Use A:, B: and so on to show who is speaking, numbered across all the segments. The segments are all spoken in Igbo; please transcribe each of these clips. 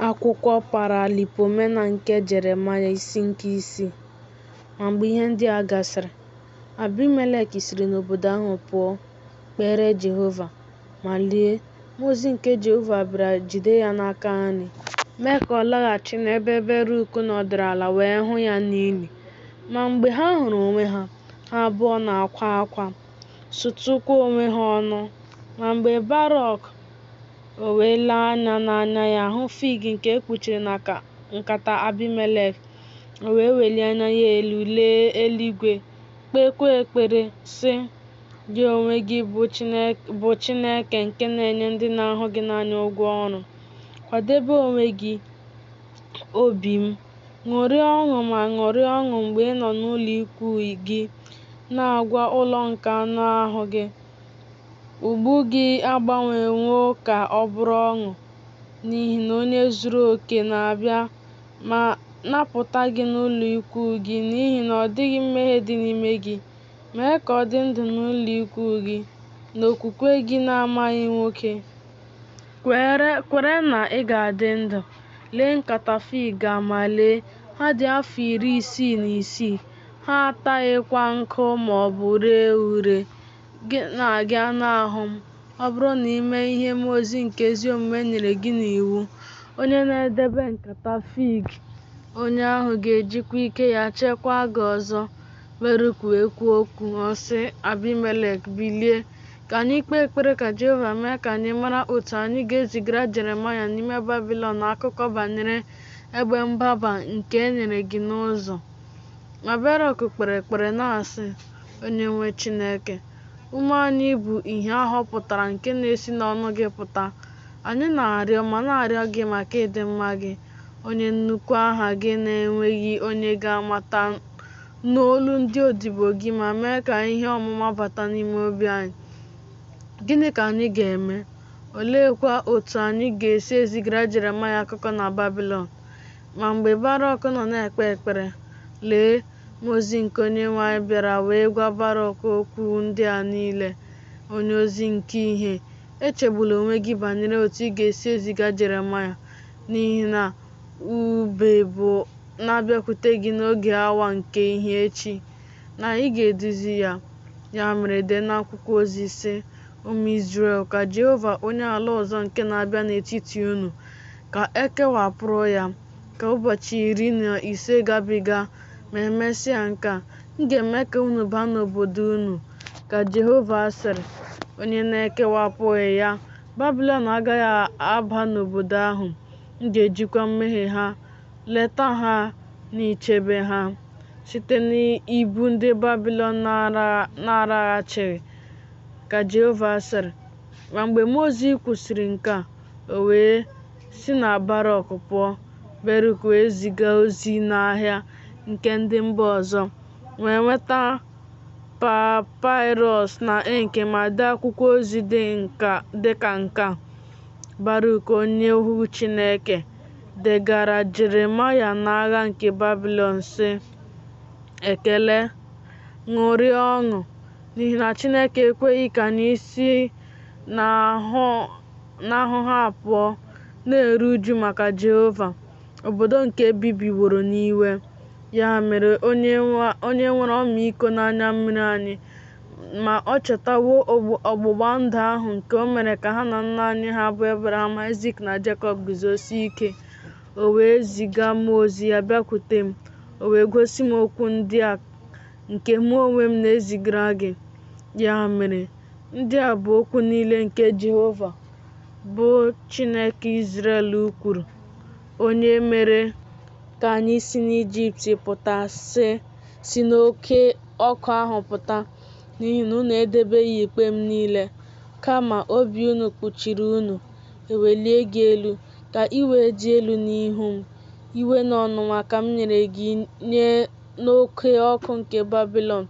A: Akwụkwọ Paralipomena nke Jeremaya isi nke isii Ma mgbe ihe ndị a gasịrị, Abimelek siri n'obodo ahụ pụọ, kpere Jehova. Ma lee! mmụọ ozi nke Jehova bịara jide ya n'aka nri, mee ka ọ laghachi n'ebe Beruk nọdụrụ ala wee hụ ya n'ili. Ma mgbe ha hụrụ onwe ha, ha abụọ na-akwa akwa, sụtụkwa onwe ha ọnụ. Ma mgbe Barọk O wee lee anya n'anya ya hụ fig nke e kpuchiri na nkata Abimelek. O wee welie anya ya elu lee eluigwe, kpeekwa ekpere, sị, Gị onwe gị bụ Chineke nke na-enye ndị na-ahụ gị n'anya ụgwọ ọrụ. Kwadebe onwe gị, obi m. Ṅụrịa ọṅụ ma ṅụrịa ọṅụ mgbe ị nọ n'ụlọikwuu gị, na-agwa ụlọ nke anụ ahụ gị, Mgbu gị agbanwewo ka ọ bụrụ ọṅụ, n'ihi na onye zuru oke na-abịa ma napụta gị n'ụlọikwuu gị, n'ihi na ọ dịghị mmehie dị n'ime gị. Mee ka ọ dị ndụ n'ụlọikwuu gị, n'okwukwe gị na-amaghị nwoke. Kwere na ị ga-adị ndụ. Lee nkata fig a ma lee, ha dị afọ iri isii na isii. Ha ataghịkwa nkụ ma ọ bụ ree ure. Gị na gị anụ ahụ m, ọ bụrụ na i mee ihe mmụọ ozi nke ezi omume nyere gị n'iwu, onye na-edebe nkata fig, onye ahụ ga-ejikwa ike ya chekwaa gị ọzọ. Beruk wee kwuo okwu, ọ sị Abimelek, Bilie, ka anyị kpee ekpere ka Jehova mee ka anyị mara otu anyị ga-ezigara Jeremaya n'ime Babilọn akụkọ banyere ebe mgbaba nke e nyere gị n'ụzọ. Ma Berọk kpere ekpere na-asị, Onyenwe Chineke, ume anyị bụ ìhè a họpụtara nke na-esi n'ọnụ gị pụta. Anyị na-arịọ ma na-arịọ gị maka ịdị mma gị, onye nnukwu aha gị na-enweghị onye ga-amata nụ olu ndị odibo gị ma mee ka ihe ọmụma bata n'ime obi anyị. Gịnị ka anyị ga-eme? Oleekwa otu anyị ga-esi ezigara Jeremaya akụkọ na Babilọn? Ma mgbe Barọk nọ na-ekpe ekpere, lee, mmụọ ozi nke Onyenwe anyị bịara wee gwa Barọk okwu ndị a niile, Onyeozi nke ìhè, echegbula onwe gị banyere otu ị ga-esi eziga Jeremaya, n'ihi na ube bụ na-abịakwute gị n'oge awa nke ìhè echi, na ị ga-eduzi ya. Ya mere dee n'akwụkwọ ozi, sị, Ụmụ Izrel, ka Jehova onye ala ọzọ nke na-abịa n'etiti unu, ka e kewapụrụ ya ka ụbọchị iri na ise gabiga, ma e mesịa nke a, m ga-eme ka unu baa n'obodo unu, ka Jehova sịrị, onye na-ekewapụghị ya Babịlọn agaghị aba n'obodo ahụ, m ga-ejikwa mmehie ha leta ha na ichebe ha site n'ibu ndị Babịlọn na-araghachighị, ka Jehova sịrị. Ma mgbe mmụọ ozi kwusiri nke a, O wee si na Baruk pụọ, Baruk wee ziga ozi n'ahịa nke ndị mba ọzọ, wee nweta papịrọs na ink ma dee akwụkwọ ozi dị ka nke a, Baruk onye ohu Chineke degaara Jeremaya n'agha nke Babịlọn, sị, Ekele, ṅụrịa ọṅụ, n'ihi na Chineke ekweghị ka anyị si n'ahụ n'ahụhụ a pụọ, na-eru uju maka Jehova, obodo nke e bibiworo n'iwe. Ya mere, onye nwe- onye nwere ọmịiko n'anya mmiri anyị, ma ọ chetawo ogb- ọgbụgba ndụ ahụ nke o mere ka ha na nna anyị ha bụ Ebraham, Aịzik, na Jekọb guzosie ike. O wee ziga mmụọ ozi ya bịakwute m, o wee gosi m okwu ndị a nke mụ onwe m na-ezigara gị. Ya mere, Ndị a bụ okwu niile nke Jehova, bụ Chineke Izrel kwuru, onye mere ka anyị si n'Ijipt pụta, sị, Si n'oke ọkụ ahụ pụta, n'ihi na unu edebeghị ikpe m niile, kama obi unu kpuchiri unu, ewelie gị elu, ka i wee dị elu n'ihu m. Iwe na ọnụma ka m nyere gị nye n'oke ọkụ nke Babilọn.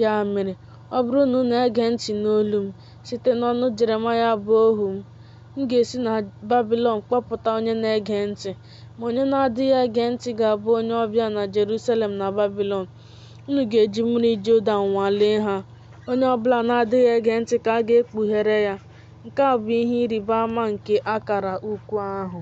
A: Ya mere, Ọ bụrụ na unu ege ntị n'olu m site n'ọnụ Jeremaya bụ ohu m, m ga-esi na Babịlọn kpọpụta onye na-ege ntị, ma onye na-adịghị ege ntị ga-abụ onye ọbịa na Jerusalem na Babịlọn. Unu ga-eji mmiri Jọdan nwalee ha. Onye ọ bụla na-adịghị ege ntị ka a ga-ekpughere ya. Nke a bụ ihe ịrịba ama nke akara ukwu ahụ.